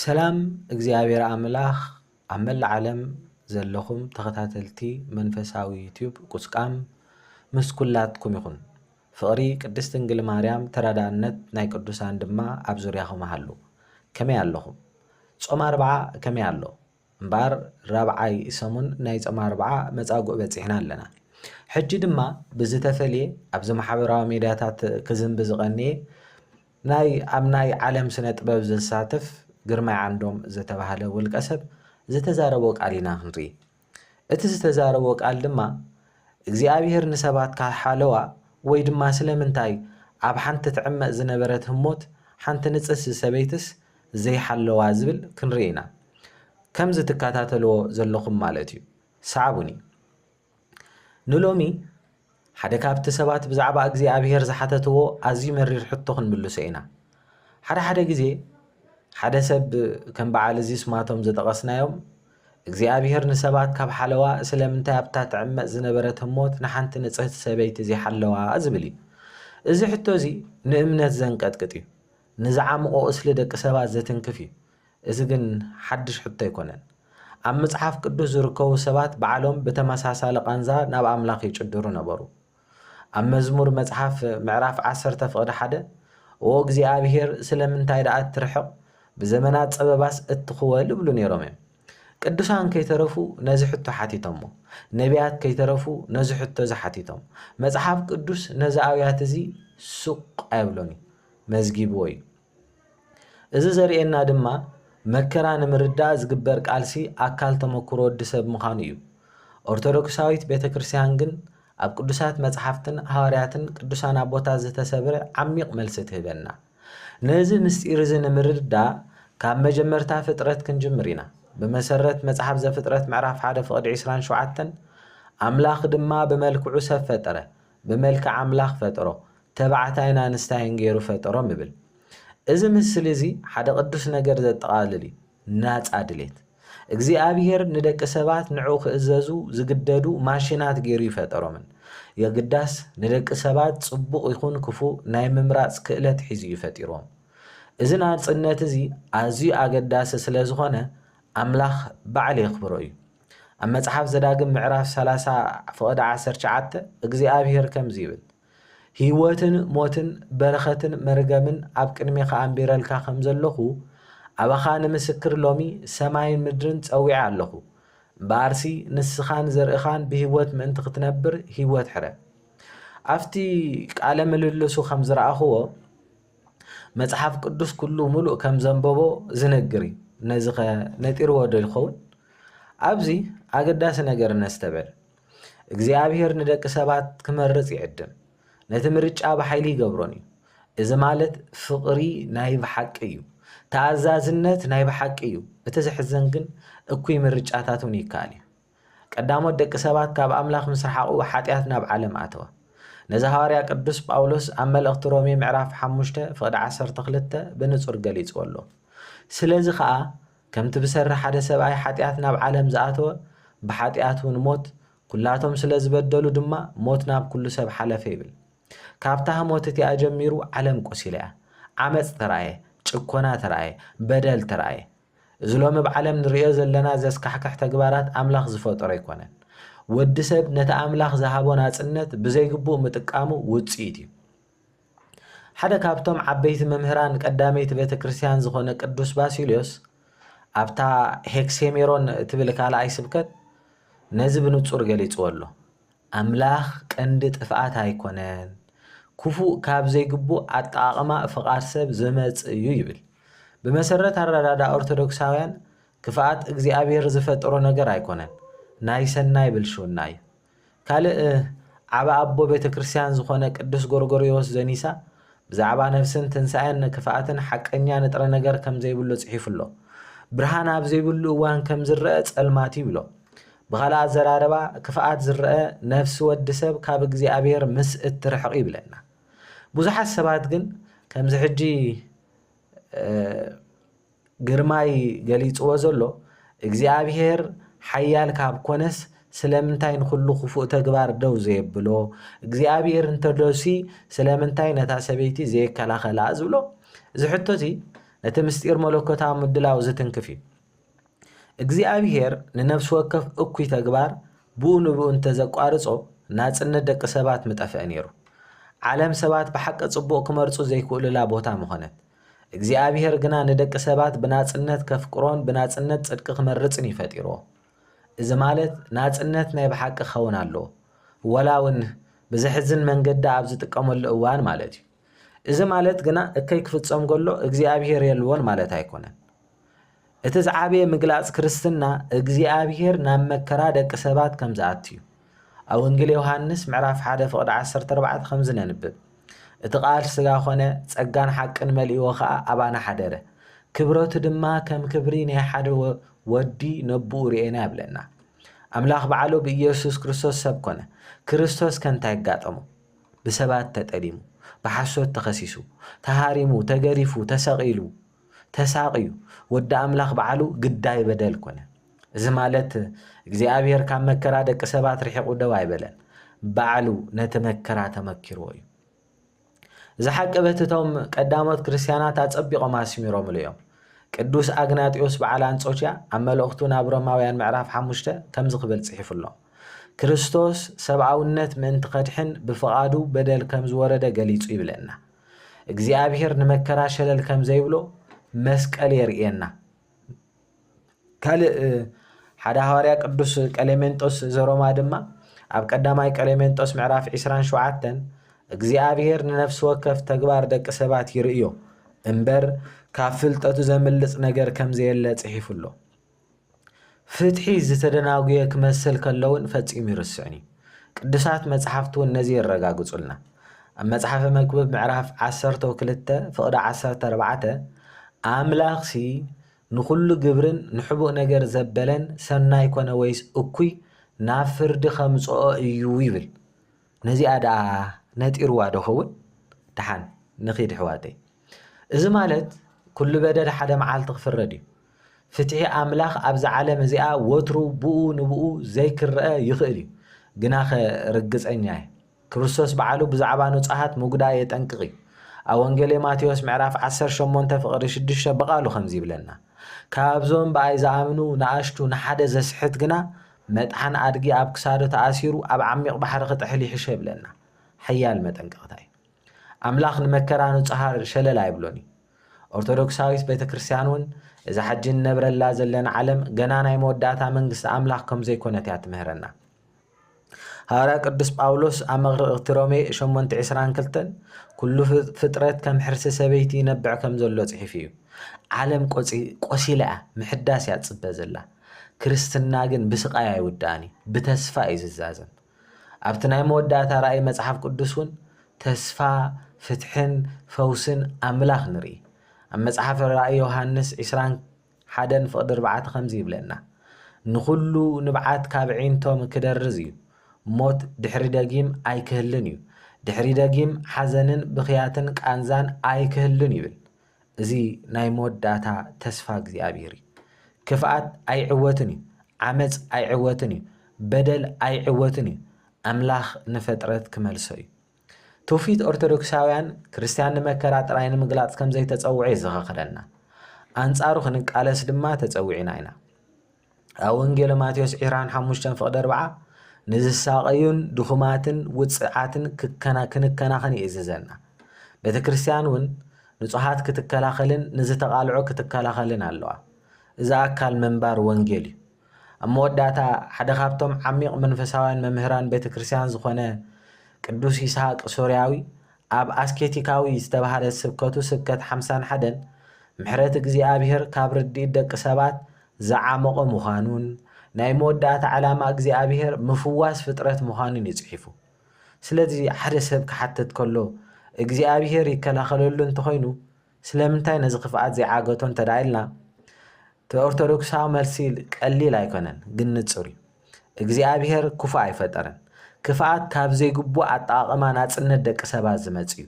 ሰላም እግዚኣብሔር ኣምላኽ ኣብ መላእ ዓለም ዘለኹም ተኸታተልቲ መንፈሳዊ ዩቲዩብ ቁስቋም ምስ ኩላትኩም ይኹን። ፍቕሪ ቅድስት ድንግል ማርያም ተራዳእነት ናይ ቅዱሳን ድማ ኣብ ዙርያኹም ሃሉ። ከመይ ኣለኹም? ጾም ኣርብዓ ከመይ ኣሎ? እምበኣር ራብዓይ ሰሙን ናይ ጾመ ኣርብዓ መጻጉእ በጺሕና ኣለና። ሕጂ ድማ ብዝተፈልየ ኣብዚ ማሕበራዊ ሜድያታት ክዝንቢ ዝቐንየ ናይ ኣብ ናይ ዓለም ስነ ጥበብ ዘሳትፍ ግርማይ ዓንዶም ዝተባህለ ውልቀ ሰብ ዝተዛረቦ ቃል ኢና ክንርኢ። እቲ ዝተዛረቦ ቃል ድማ እግዚኣብሄር ንሰባት ካብ ሓለዋ ወይ ድማ ስለምንታይ ኣብ ሓንቲ ትዕመጽ ዝነበረት ህሞት ሓንቲ ንጽስቲ ሰበይትስ ዘይሓለዋ ዝብል ክንርኢ ኢና ከምዚ ትካታተልዎ ዘለኹም ማለት እዩ ሰዓቡኒ ንሎሚ ሓደ ካብቲ ሰባት ብዛዕባ እግዚኣብሔር ዝሓተትዎ ኣዝዩ መሪር ሕቶ ክንምልሶ ኢና ሓደ ሓደ ግዜ ሓደ ሰብ ከም በዓል እዚ ስማቶም ዘጠቐስናዮም እግዚኣብሔር ንሰባት ካብ ሓለዋ ስለምንታይ ኣብታ ትዕመጽ ዝነበረት ህሞት ንሓንቲ ንጽህቲ ሰበይቲ ዘይሓለዋ ዝብል እዩ እዚ ሕቶ እዚ ንእምነት ዘንቀጥቅጥ እዩ ንዝዓምቖ ቍስሊ ደቂ ሰባት ዘትንክፍ እዩ። እዚ ግን ሓድሽ ሕቶ ኣይኰነን። ኣብ መጽሓፍ ቅዱስ ዝርከቡ ሰባት ባዕሎም ብተመሳሳሊ ቃንዛ ናብ ኣምላኽ ይጭድሩ ነበሩ። ኣብ መዝሙር መጽሓፍ ምዕራፍ ዓሰርተ ፍቕዲ ሓደ፣ ኦ እግዚኣብሄር፣ ስለምንታይ ደኣ እትርሕቕ? ብዘመናት ጸበባስ እትኽወል? እብሉ ነይሮም እዮም። ቅዱሳን ከይተረፉ ነዚ ሕቶ ሓቲቶሞ። ነብያት ከይተረፉ ነዚ ሕቶ እዚ ሓቲቶም። መጽሓፍ ቅዱስ ነዚ ኣውያት እዚ ስቕ ኣየብሎን እዩ። መዝጊብዎ እዩ። እዚ ዘርእየና ድማ መከራ ንምርዳእ ዝግበር ቃልሲ ኣካል ተመኩሮ ወዲ ሰብ ምዃኑ እዩ። ኦርቶዶክሳዊት ቤተ ክርስቲያን ግን ኣብ ቅዱሳት መጽሓፍትን ሃዋርያትን ቅዱሳን ኣቦታት ዝተሰብረ ዓሚቕ መልሲ ትህበና። ነዚ ምስጢር እዚ ንምርዳእ ካብ መጀመርታ ፍጥረት ክንጅምር ኢና። ብመሰረት መጽሓፍ ዘፍጥረት ምዕራፍ ሓደ ፍቕዲ ዕስራን ሸውዓተን ኣምላኽ ድማ ብመልክዑ ሰብ ፈጠረ፣ ብመልክዕ ኣምላኽ ፈጠሮ፣ ተባዕታይን ኣንስታይን ገይሩ ፈጠሮም ይብል። እዚ ምስሊ እዚ ሓደ ቅዱስ ነገር ዘጠቓልል እዩ፣ ናጻ ድሌት። እግዚኣብሄር ንደቂ ሰባት ንዕኡ ክእዘዙ ዝግደዱ ማሽናት ገይሩ ኣይፈጠሮምን። የግዳስ፣ ንደቂ ሰባት ጽቡቕ ይኹን ክፉእ ናይ ምምራጽ ክእለት ሒዙ እዩ ፈጢርዎም። እዚ ናጽነት እዚ ኣዝዩ ኣገዳሲ ስለ ዝዀነ፣ ኣምላኽ ባዕሉ የኽብሮ እዩ። ኣብ መጽሓፍ ዘዳግም ምዕራፍ ሰላሳ ፍቕዲ ዓሰርተ ትሽዓተ እግዚኣብሄር ከምዚ ይብል፣ ህይወትን ሞትን በረኸትን መርገምን ኣብ ቅድሜኻ ኣንቢረልካ ከም ዘሎኹ፣ ኣባኻ ንምስክር ሎሚ ሰማይን ምድርን ጸዊዐ ኣሎኹ። እምበኣርሲ ንስኻን ዘርእኻን ብህይወት ምእንቲ ኽትነብር ህይወት ሕረ። ኣብቲ ቃለ ምልልሱ ከም ዝረኣኽዎ፣ መጽሓፍ ቅዱስ ኩሉ ምሉእ ከም ዘንበቦ ዝነግር እዩ። ነዚ ከ ነጢርዎ ዶ ይኸውን? ኣብዚ ኣገዳሲ ነገር ነስተበል። እግዚኣብሔር ንደቂ ሰባት ክመርጽ ይዕድም። ነቲ ምርጫ ብሓይሊ ይገብሮን እዩ። እዚ ማለት ፍቕሪ ናይ ብሓቂ እዩ። ተኣዛዝነት ናይ ብሓቂ እዩ። እቲ ዘሕዘን ግን እኩይ ምርጫታት እውን ይከኣል እዩ። ቀዳሞት ደቂ ሰባት ካብ ኣምላኽ ምስ ረሓቑ ሓጢኣት ናብ ዓለም ኣተወ። ነዚ ሃዋርያ ቅዱስ ጳውሎስ ኣብ መልእኽቲ ሮሜ ምዕራፍ ሓሙሽተ ፍቕዲ ዓሰርተ ክልተ ብንጹር ገሊጽዎ ኣሎ። ስለዚ ኸኣ ከምቲ ብሰሪ ሓደ ሰብኣይ ሓጢኣት ናብ ዓለም ዝኣተወ ብሓጢኣት እውን ሞት፣ ኩላቶም ስለ ዝበደሉ ድማ ሞት ናብ ኩሉ ሰብ ሓለፈ ይብል። ካብታ ህሞት እቲኣ ጀሚሩ ዓለም ቆሲላ እያ። ዓመጽ ተራእየ፣ ጭኮና ተራእየ፣ በደል ተራእየ። እዚ ሎሚ ኣብ ዓለም ንርእዮ ዘለና ዘስካሕክሕ ተግባራት ኣምላኽ ዝፈጠሮ ኣይኮነን። ወዲ ሰብ ነቲ ኣምላኽ ዝሃቦ ናጽነት ብዘይግቡእ ምጥቃሙ ውጽኢት እዩ። ሓደ ካብቶም ዓበይቲ መምህራን ቀዳመይቲ ቤተ ክርስቲያን ዝኾነ ቅዱስ ባሲልዮስ ኣብታ ሄክሴሜሮን እትብል ካልኣይ ስብከት ነዚ ብንጹር ገሊጽዎ ኣሎ። ኣምላኽ ቀንዲ ጥፍኣት ኣይኰነን፣ ክፉእ ካብ ዘይግቡእ ኣጠቓቕማ ፍቓድ ሰብ ዝመጽእ እዩ ይብል። ብመሰረት ኣረዳድኣ ኦርቶዶክሳውያን፣ ክፍኣት እግዚኣብሔር ዝፈጠሮ ነገር ኣይኰነን፣ ናይ ሰናይ ብልሽውና እዩ። ካልእ ዓቢ ኣቦ ቤተ ክርስቲያን ዝዀነ ቅዱስ ጎርጎርዮስ ዘኒሳ፣ ብዛዕባ ነፍስን ትንሳኤን ንክፍኣትን ሓቀኛ ንጥረ ነገር ከም ዘይብሉ ጽሒፉ ኣሎ። ብርሃን ኣብ ዘይብሉ እዋን ከም ዝረኣ ጸልማት እዩ ይብሎ። ብኻልእ ኣዘራርባ ክፍኣት ዝረኣ ነፍሲ ወዲ ሰብ ካብ እግዚኣብሔር ምስ እትርሕቕ እዩ ይብለና። ብዙሓት ሰባት ግን ከምዚ ሕጂ ግርማይ ገሊጽዎ ዘሎ እግዚኣብሄር ሓያል ካብ ኮነስ ስለምንታይ ንኹሉ ክፉእ ተግባር ደው ዘየብሎ እግዚኣብሄር እንተሎሲ ስለምንታይ ነታ ሰበይቲ ዘየከላኸላ ዝብሎ እዚ ሕቶ እዚ ነቲ ምስጢር መለኮታዊ ምድላው ዝትንክፍ እዩ እግዚኣብሄር ንነፍሲ ወከፍ እኩይ ተግባር ብኡ ንብኡ እንተዘቋርጾ ናጽነት ደቂ ሰባት ምጠፍአ ነይሩ ዓለም ሰባት ብሓቂ ጽቡቕ ክመርጹ ዘይክእሉላ ቦታ ምኾነት እግዚኣብሔር ግና ንደቂ ሰባት ብናጽነት ከፍቅሮን ብናጽነት ጽድቂ ክመርጽን እዩ ፈጢሮ እዚ ማለት ናጽነት ናይ ብሓቂ ክኸውን ኣሎ ወላ እውን ብዘሕዝን መንገዲ ኣብ ዝጥቀመሉ እዋን ማለት እዩ እዚ ማለት ግና እከይ ክፍጸም ከሎ እግዚኣብሔር የልቦን ማለት ኣይኮነን እቲ ዝዓበየ ምግላጽ ክርስትና እግዚኣብሔር ናብ መከራ ደቂ ሰባት ከም ዝኣቱ እዩ። ኣብ ወንጌል ዮሐንስ ምዕራፍ 1 ፍቕዲ 14 ከምዚ ነንብብ እቲ ቃል ስጋ ኮነ ጸጋን ሓቅን መልእዎ ከኣ ኣባና ሓደረ ክብረቱ ድማ ከም ክብሪ ናይ ሓደ ወዲ ነብኡ ርኤና ይብለና። ኣምላኽ ባዕሉ ብኢየሱስ ክርስቶስ ሰብ ኮነ። ክርስቶስ ከ እንታይ ኣጋጠሞ? ብሰባት ተጠሊሙ፣ ብሓሶት ተኸሲሱ፣ ተሃሪሙ፣ ተገሪፉ፣ ተሰቒሉ፣ ተሳቕዩ፣ ወዲ ኣምላኽ ባዕሉ ግዳይ በደል ኮነ። እዚ ማለት እግዚኣብሔር ካብ መከራ ደቂ ሰባት ርሒቑ ደው ኣይበለን። ባዕሉ ነቲ መከራ ተመኪርዎ እዩ። እዚ ሓቂ በቲ እቶም ቀዳሞት ክርስቲያናት ኣጸቢቖም ኣስሚሮምሉ እዮም። ቅዱስ ኣግናጢዮስ በዓል ኣንጾኪያ ኣብ መልእኽቱ ናብ ሮማውያን ምዕራፍ ሓሙሽተ ከምዚ ክብል ጽሒፉ ኣሎ። ክርስቶስ ሰብኣውነት ምእንቲ ከድሕን ብፍቓዱ በደል ከም ዝወረደ ገሊጹ ይብለና። እግዚኣብሔር ንመከራ ሸለል ከም ዘይብሎ መስቀል የርእየና። ካልእ ሓደ ሃዋርያ ቅዱስ ቀሌሜንጦስ ዘሮማ ድማ ኣብ ቀዳማይ ቀሌሜንጦስ ምዕራፍ 27 እግዚኣብሔር ንነፍሲ ወከፍ ተግባር ደቂ ሰባት ይርእዮ እምበር ካብ ፍልጠቱ ዘምልጽ ነገር ከም ዘየለ ጽሒፉ ኣሎ። ፍትሒ ዝተደናጉየ ክመስል ከሎውን ፈጺሙ ይርስዕን እዩ። ቅዱሳት መጽሓፍት እውን ነዚ የረጋግጹልና። ኣብ መጽሓፈ መክብብ ምዕራፍ ዓሰርተው ክልተ ፍቕዲ ዓሰርተ ኣርባዕተ ኣምላኽሲ ንኹሉ ግብርን ንሕቡእ ነገር ዘበለን ሰናይ ኮነ ወይስ እኩይ ናብ ፍርዲ ከምጽኦ እዩ ይብል። ነዚኣ ደኣ ነጢርዋ ዶ ኸውን? ደሓን ንኺድ ኣሕዋተይ። እዚ ማለት ኩሉ በደል ሓደ መዓልቲ ክፍረድ እዩ። ፍትሒ ኣምላኽ ኣብዛ ዓለም እዚኣ ወትሩ ብኡ ንብኡ ዘይክረኣ ይኽእል እዩ። ግናኸ ርግጸኛ እየ፣ ክርስቶስ ባዕሉ ብዛዕባ ንጹሃት ምጉዳ የጠንቅቕ እዩ። ኣብ ወንጌሌ ማቴዎስ ምዕራፍ ዓሰርተ ሸሞንተ ፍቕዲ ሽዱሽተ ብቓሉ ከምዚ ይብለና፣ ካብዞም ብኣይ ዝኣምኑ ንኣሽቱ ንሓደ ዘስሕት ግና መጥሓን ኣድጊ ኣብ ክሳዱ ተኣሲሩ ኣብ ዓሚቕ ባሕሪ ክጥሕል ይሕሾ ይብለና። ሓያል መጠንቀቕታ እዩ። ኣምላኽ ንመከራ ንጹሃር ሸለል ኣይብሎን እዩ። ኦርቶዶክሳዊት ቤተክርስትያን እውን እዛ ሕጂ እንነብረላ ዘለና ዓለም ገና ናይ መወዳእታ መንግስቲ ኣምላኽ ከም ዘይኮነት እያ ትምህረና። ሃዋርያ ቅዱስ ጳውሎስ ኣብ መግርቕቲ ሮሜ ሸሞንተ ዕስራን ክልተን ኩሉ ፍጥረት ከም ሕርሲ ሰበይቲ ይነብዕ ከም ዘሎ ጽሒፉ እዩ። ዓለም ቆሲላ እያ፣ ምሕዳስ እያ ትጽበ ዘላ። ክርስትና ግን ብስቓይ ኣይውዳእን እዩ፣ ብተስፋ እዩ ዝዛዘም። ኣብቲ ናይ መወዳእታ ራእይ መጽሓፍ ቅዱስ እውን ተስፋ ፍትሕን ፈውስን ኣምላኽ ንርኢ። ኣብ መጽሓፍ ራእይ ዮሃንስ ዕስራን ሓደን ፍቕዲ ኣርባዕተ ከምዚ ይብለና፣ ንዅሉ ንብዓት ካብ ኣዒንቶም ክደርዝ እዩ፣ ሞት ድሕሪ ደጊም ኣይክህልን እዩ፣ ድሕሪ ደጊም ሓዘንን ብኽያትን ቃንዛን ኣይክህሉን ይብል። እዚ ናይ መወዳእታ ተስፋ እግዚኣብሔር እዩ። ክፍኣት ኣይዕወትን እዩ። ዓመጽ ኣይዕወትን እዩ። በደል ኣይዕወትን እዩ። ኣምላኽ ንፈጥረት ክመልሶ እዩ። ትውፊት ኦርቶዶክሳውያን ክርስትያን ንመከራ ጥራይ ንምግላጽ ከም ዘይተጸውዐ የዘኻኽረና። ኣንጻሩ ክንቃለስ ድማ ተጸዊዕና ኢና። ኣብ ወንጌለ ማቴዎስ ዒራን ሓሙሽተን ፍቕዲ ኣርብዓ ንዝሳቐዩን ድኹማትን ውፅዓትን ክንከናኸን ይእዝዘና። ቤተ ክርስቲያን እውን ንጹሃት ክትከላኸልን ንዝተቓልዑ ክትከላኸልን ኣለዋ። እዚ ኣካል ምንባር ወንጌል እዩ። ኣብ መወዳእታ ሓደ ካብቶም ዓሚቕ መንፈሳውያን መምህራን ቤተ ክርስቲያን ዝኾነ ቅዱስ ይስሐቅ ሶርያዊ ኣብ ኣስኬቲካዊ ዝተባህለ ስብከቱ ስብከት ሓምሳን ሓደን ምሕረት እግዚኣብሔር ካብ ርድኢት ደቂ ሰባት ዝዓሞቐ ምዃኑን ናይ መወዳእታ ዕላማ እግዚኣብሄር ምፍዋስ ፍጥረት ምዃኑን እዩ ጽሒፉ። ስለዚ ሓደ ሰብ ክሓትት ከሎ እግዚኣብሄር ይከላኸለሉ እንተኾይኑ ስለምንታይ ነዚ ክፍኣት ዘይዓገቶ እንተድኣ ኢልና እቲ ኦርቶዶክሳዊ መልሲ ቀሊል ኣይኮነን ግን ንጹር እዩ። እግዚኣብሄር ክፉእ ኣይፈጠረን። ክፍኣት ካብ ዘይግቡእ ኣጠቓቕማ ናጽነት ደቂ ሰባት ዝመጽእ እዩ።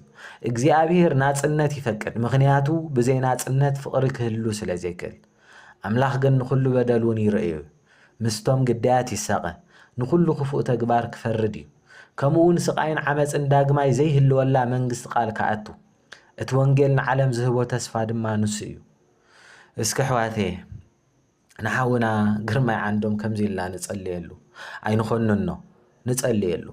እግዚኣብሄር ናጽነት ይፈቅድ፣ ምኽንያቱ ብዘይ ናጽነት ፍቕሪ ክህሉ ስለ ዘይክእል። ኣምላኽ ግን ንኹሉ በደል እውን ይርእዮ እዩ። ምስቶም ግዳያት ይሳቐ፣ ንኹሉ ክፉእ ተግባር ክፈርድ እዩ። ከምኡውን ስቓይን ዓመጽን ዳግማይ ዘይህልወላ መንግስቲ ቃል ክኣቱ። እቲ ወንጌል ንዓለም ዝህቦ ተስፋ ድማ ንሱ እዩ። እስኪ ኣሕዋተየ ንሓውና ግርማይ ዓንዶም ከምዚ ኢልና ንጸልየሉ ኣይንኾንኖ ንጸልየሉ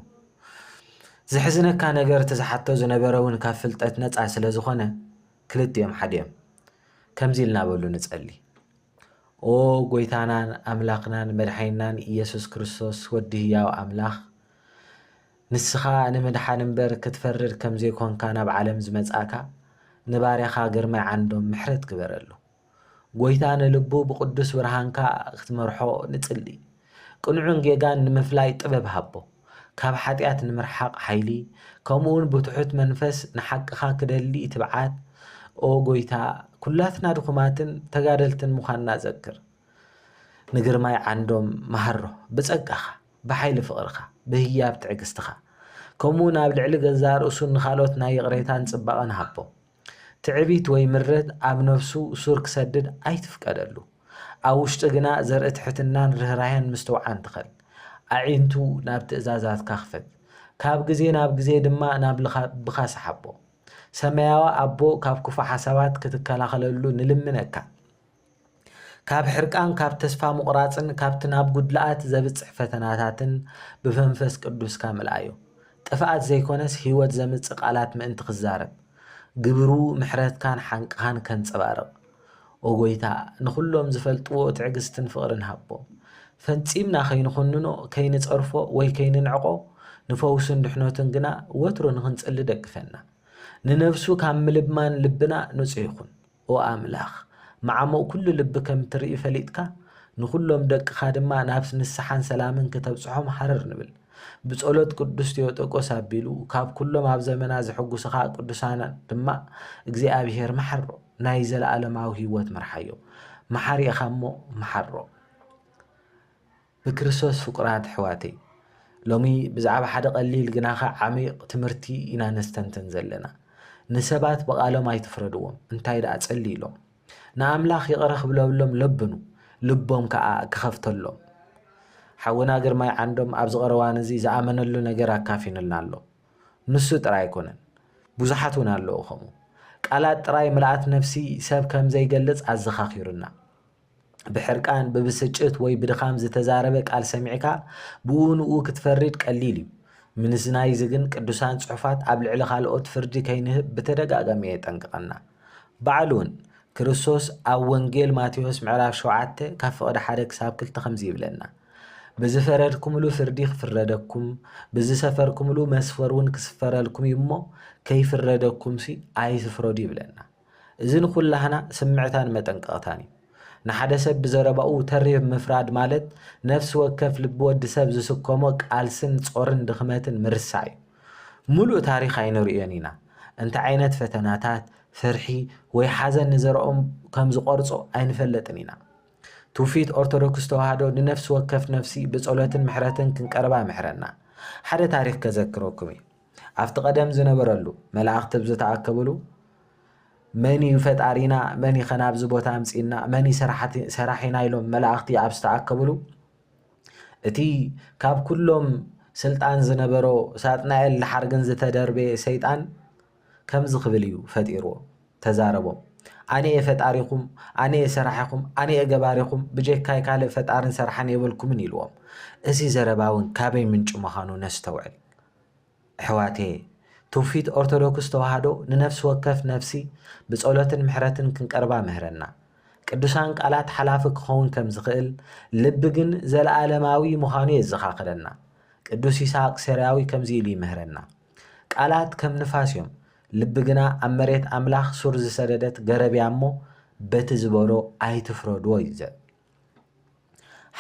ዝሕዝነካ ነገር እቲ ዝሓቶ ዝነበረ እውን ካብ ፍልጠት ነፃ ስለ ዝኾነ ክልቲኦም ሓደ እዮም ከምዚ ኢልና በሉ ንጸሊ ኦ ጎይታናን ኣምላኽናን መድሓይናን ኢየሱስ ክርስቶስ ወዲ ህያው ኣምላኽ ንስኻ ንምድሓን እምበር ክትፈርድ ከም ዘይኮንካ ናብ ዓለም ዝመጻእካ ንባርያኻ ግርማይ ዓንዶም ምሕረት ግበረሉ ጐይታ ንልቡ ብቕዱስ ብርሃንካ ክትመርሖ ንጽሊ። ቅኑዕን ጌጋን ንምፍላይ ጥበብ ሃቦ። ካብ ሓጢኣት ንምርሓቕ ሓይሊ፣ ከምኡውን ብትሑት መንፈስ ንሓቅኻ ክደሊ ትብዓት። ኦ ጐይታ፣ ኵላትና ድኹማትን ተጋደልትን ምዃንና ዘክር። ንግርማይ ዓንዶም መሃሮ፣ ብጸጋኻ፣ ብሓይሊ ፍቕርኻ፣ ብህያብ ትዕግስትኻ፣ ከምኡውን ኣብ ልዕሊ ገዛእ ርእሱን ንኻልኦት ናይ ይቕሬታን ጽባቐን ሃቦ። ትዕቢት ወይ ምረት ኣብ ነፍሱ ሱር ክሰድድ ኣይትፍቀደሉ። ኣብ ውሽጢ ግና ዘርኢ ትሕትናን ርህራሄን ምስትውዓን ትኸል። ኣዒንቱ ናብ ትእዛዛትካ ክፈት። ካብ ግዜ ናብ ግዜ ድማ ናብ ልብኻ ስሓቦ። ሰማያዊ ኣቦ ካብ ክፉእ ሓሳባት ክትከላኸለሉ ንልምነካ። ካብ ሕርቃን ካብ ተስፋ ምቑራጽን ካብቲ ናብ ጉድለኣት ዘብጽሕ ፈተናታትን ብመንፈስ ቅዱስካ ምልኣዮ። ጥፍኣት ዘይኮነስ ህይወት ዘምጽእ ቃላት ምእንቲ ክዛረብ ግብሩ ምሕረትካን ሓንቅኻን ከንጸባርቕ ኦ ጎይታ ንኹሎም ዝፈልጥዎ ትዕግስትን ፍቕርን ሃቦ። ፈጺምና ከይንኹንኖ ከይንጸርፎ ወይ ከይንንዕቆ ንፈውሱን ድሕነቱን ግና ወትሩ ንኽንጽሊ ደግፈና። ንነብሱ ካብ ምልማን ልብና ንጹህ ይኹን። ኦ ኣምላኽ፣ መዓሙቕ ኵሉ ልቢ ከም እትርኢ ፈሊጥካ፣ ንዅሎም ደቅኻ ድማ ናብ ንስሓን ሰላምን ከተብጽሖም ሃረር ንብል። ብጸሎት ቅዱስ ቴዎጦቆስ ኣቢሉ፣ ካብ ኵሎም ኣብ ዘመና ዘሐጕሱኻ ቅዱሳን ድማ እግዚኣብሔር መሓሮ፣ ናይ ዘለኣለማዊ ህይወት ምርሓዮ። መሓሪ ኢኻ እሞ መሓሮ። ብክርስቶስ ፍቁራት ኣሕዋተይ፣ ሎሚ ብዛዕባ ሓደ ቀሊል ግናኸ ዓሚቕ ትምህርቲ ኢና ነስተንትን ዘለና። ንሰባት ብቓሎም ኣይትፍረድዎም፣ እንታይ ደኣ ጸልዩሎም። ንኣምላኽ ይቕረ ክብለሎም ለብኑ፣ ልቦም ከኣ ክኸፍተሎም። ሓውና ግርማይ ዓንዶም ኣብዚ ቀረዋን እዚ ዝኣመነሉ ነገር ኣካፊኑልና ኣሎ። ንሱ ጥራይ ኣይኮነን፣ ብዙሓት እውን ኣለዉ ከምኡ። ቃላት ጥራይ ምልኣት ነፍሲ ሰብ ከም ዘይገልጽ ኣዘኻኺሩና። ብሕርቃን፣ ብብስጭት ወይ ብድኻም ዝተዛረበ ቃል ሰሚዕካ ብኡ ንኡ ክትፈርድ ቀሊል እዩ። ምንስናይዚ ግን ቅዱሳን ጽሑፋት ኣብ ልዕሊ ካልኦት ፍርዲ ከይንህብ ብተደጋጋሚ የጠንቅቐና። ባዕሉውን ክርስቶስ ኣብ ወንጌል ማቴዎስ ምዕራፍ ሸውዓተ ካብ ፍቕዲ ሓደ ክሳብ ክልተ ከምዚ ይብለና ብዝፈረድኩምሉ ፍርዲ ክፍረደኩም ብዝሰፈርኩምሉ መስፈር እውን ክስፈረልኩም እዩ እሞ ከይፍረደኩምሲ ኣይትፍረዱ ይብለና። እዚ ንኹላህና ስምዕታን መጠንቀቕታን እዩ። ንሓደ ሰብ ብዘረባኡ ተሪር ምፍራድ ማለት ነፍሲ ወከፍ ልቢ ወዲ ሰብ ዝስከሞ ቃልስን ጾርን ድኽመትን ምርሳዕ እዩ። ምሉእ ታሪኽ ኣይንርእዮን ኢና። እንታይ ዓይነት ፈተናታት፣ ፍርሒ ወይ ሓዘን ንዘረኦም ከም ዝቖርጾ ኣይንፈለጥን ኢና። ትውፊት ኦርቶዶክስ ተዋህዶ ንነፍሲ ወከፍ ነፍሲ ብጸሎትን ምሕረትን ክንቀርባ ይምሕረና። ሓደ ታሪኽ ከዘክረኩም እየ። ኣብቲ ቀደም ዝነበረሉ፣ መላእኽቲ ኣብ ዝተኣከብሉ፣ መን እዩ ፈጣሪና፣ መን እዩ ከ ናብዚ ቦታ ኣምጺእና፣ መን እዩ ሰራሒና ኢሎም መላእኽቲ ኣብ ዝተኣከብሉ፣ እቲ ካብ ኩሎም ስልጣን ዝነበሮ ሳጥናኤል ድሓር ግን ዝተደርበየ ሰይጣን ከምዚ ክብል እዩ ፈጢርዎ፣ ተዛረቦም። ኣነ እየ ፈጣሪኹም፣ ኣነ እየ ሰራሒኹም፣ ኣነ እየ ገባሪኹም፣ ብጀካይ ካልእ ፈጣርን ሰራሕን የብልኩምን ኢልዎም። እዚ ዘረባ እውን ካበይ ምንጩ ምዃኑ ነስተውዕል። እሕዋትየ ትውፊት ኦርቶዶክስ ተዋህዶ ንነፍሲ ወከፍ ነፍሲ ብጸሎትን ምሕረትን ክንቀርባ ምህረና ቅዱሳን ቃላት ሓላፊ ክኸውን ከም ዝኽእል ልቢ ግን ዘለኣለማዊ ምዃኑ የዘኻኽረና ቅዱስ ይስሃቅ ሴርያዊ ከምዚ ኢሉ ይምህረና ቃላት ከም ንፋስ እዮም ልቢ ግና ኣብ መሬት ኣምላኽ ሱር ዝሰደደት ገረብያ እሞ በቲ ዝበሎ ኣይትፍረድዎ እዩ ዘብ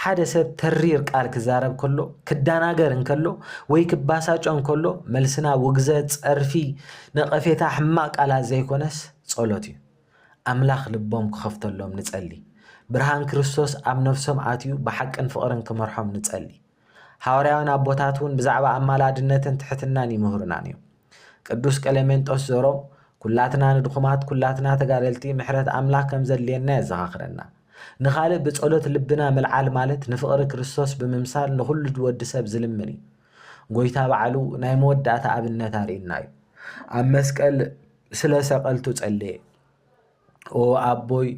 ሓደ ሰብ ተሪር ቃል ክዛረብ ከሎ ክደናገር እንከሎ ወይ ክባሳጮ እንከሎ መልስና ውግዘት፣ ጸርፊ፣ ነቐፌታ፣ ሕማቕ ቃላት ዘይኮነስ ጸሎት እዩ። ኣምላኽ ልቦም ክኸፍተሎም ንጸሊ። ብርሃን ክርስቶስ ኣብ ነፍሶም ኣትዩ ብሓቅን ፍቕርን ክመርሖም ንጸሊ። ሓዋርያውያን ኣቦታት እውን ብዛዕባ ኣማላድነትን ትሕትናን ይምህሩና ነይም። ቅዱስ ቀሌሜንጦስ ዘሮም ኩላትና ንድኹማት ኩላትና ተጋደልቲ ምሕረት ኣምላክ ከም ዘድልየና የዘኻኽረና። ንኻልእ ብጸሎት ልብና ምልዓል ማለት ንፍቕሪ ክርስቶስ ብምምሳል ንኹሉ ወዲ ሰብ ዝልምን እዩ። ጎይታ ባዕሉ ናይ መወዳእታ ኣብነት ኣርእዩና እዩ። ኣብ መስቀል ስለ ሰቀልቱ ጸለየ። ኦ ኣቦይ፣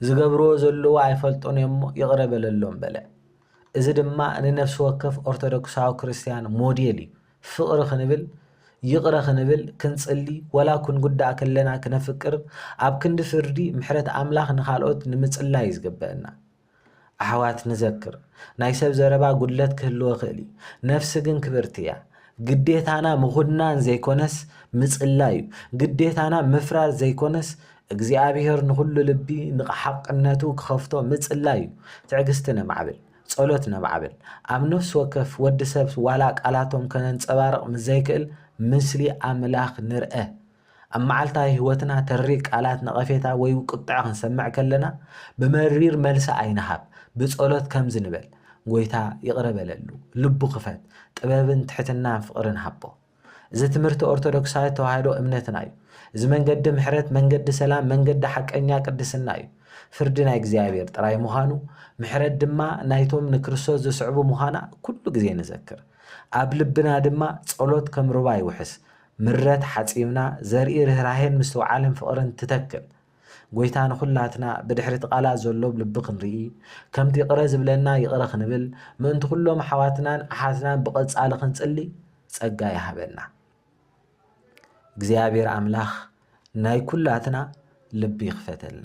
ዝገብርዎ ዘለዉ ኣይፈልጡን እዮም'ሞ ይቕረ በለሎም በለ። እዚ ድማ ንነፍሲ ወከፍ ኦርቶዶክሳዊ ክርስትያን ሞዴል እዩ። ፍቕሪ ክንብል፣ ይቕረ ክንብል፣ ክንጽሊ፣ ወላ ክንጉዳእ ከለና ክነፍቅር፣ ኣብ ክንዲ ፍርዲ ምሕረት ኣምላኽ ንኻልኦት ንምጽላይ እዩ ዝግበእና። ኣሕዋት ንዘክር ናይ ሰብ ዘረባ ጉድለት ክህልዎ ክእል እዩ ነፍሲ ግን ክብርቲ እያ ግዴታና ምኹናን ዘይኮነስ ምጽላይ እዩ ግዴታና ምፍራር ዘይኮነስ እግዚኣብሔር ንኹሉ ልቢ ንሓቅነቱ ክኸፍቶ ምጽላይ እዩ ትዕግስቲ ነማዕብል ጸሎት ነማዕብል ኣብ ነፍሲ ወከፍ ወዲ ሰብ ዋላ ቃላቶም ከነንጸባርቅ ምስ ዘይክእል ምስሊ ኣምላኽ ንርእ ኣብ መዓልታዊ ህይወትና ተሪር ቃላት ነቐፌታ ወይ ቁጥዐ ክንሰምዕ ከለና ብመሪር መልሲ ኣይንሃብ፣ ብጸሎት ከምዚ ንበል፣ ጐይታ ይቕረ በለሉ፣ ልቡ ክፈት፣ ጥበብን ትሕትናን ፍቕርን ሃቦ። እዚ ትምህርቲ ኦርቶዶክሳዊት ተዋህዶ እምነትና እዩ። እዚ መንገዲ ምሕረት፣ መንገዲ ሰላም፣ መንገዲ ሓቀኛ ቅድስና እዩ። ፍርዲ ናይ እግዚኣብሔር ጥራይ ምዃኑ፣ ምሕረት ድማ ናይቶም ንክርስቶስ ዝስዕቡ ምዃና ኩሉ ግዜ ንዘክር። ኣብ ልብና ድማ ጸሎት ከም ሩባ ይውሕስ፣ ምረት ሓጺብና ዘርኢ ርህራሄን ምስትውዓልን ፍቕርን ትተክል ጎይታ ንኹላትና ብድሕሪ እቲ ቃላት ዘሎ ብልቢ ክንርኢ ከምቲ ይቕረ ዝብለና ይቕረ ክንብል ምእንቲ ኩሎም ኣሓዋትናን ኣሓትናን ብቐጻሊ ክንጽሊ ጸጋ ይሃበና እግዚኣብሔር ኣምላኽ ናይ ኩላትና ልቢ ይኽፈተልና።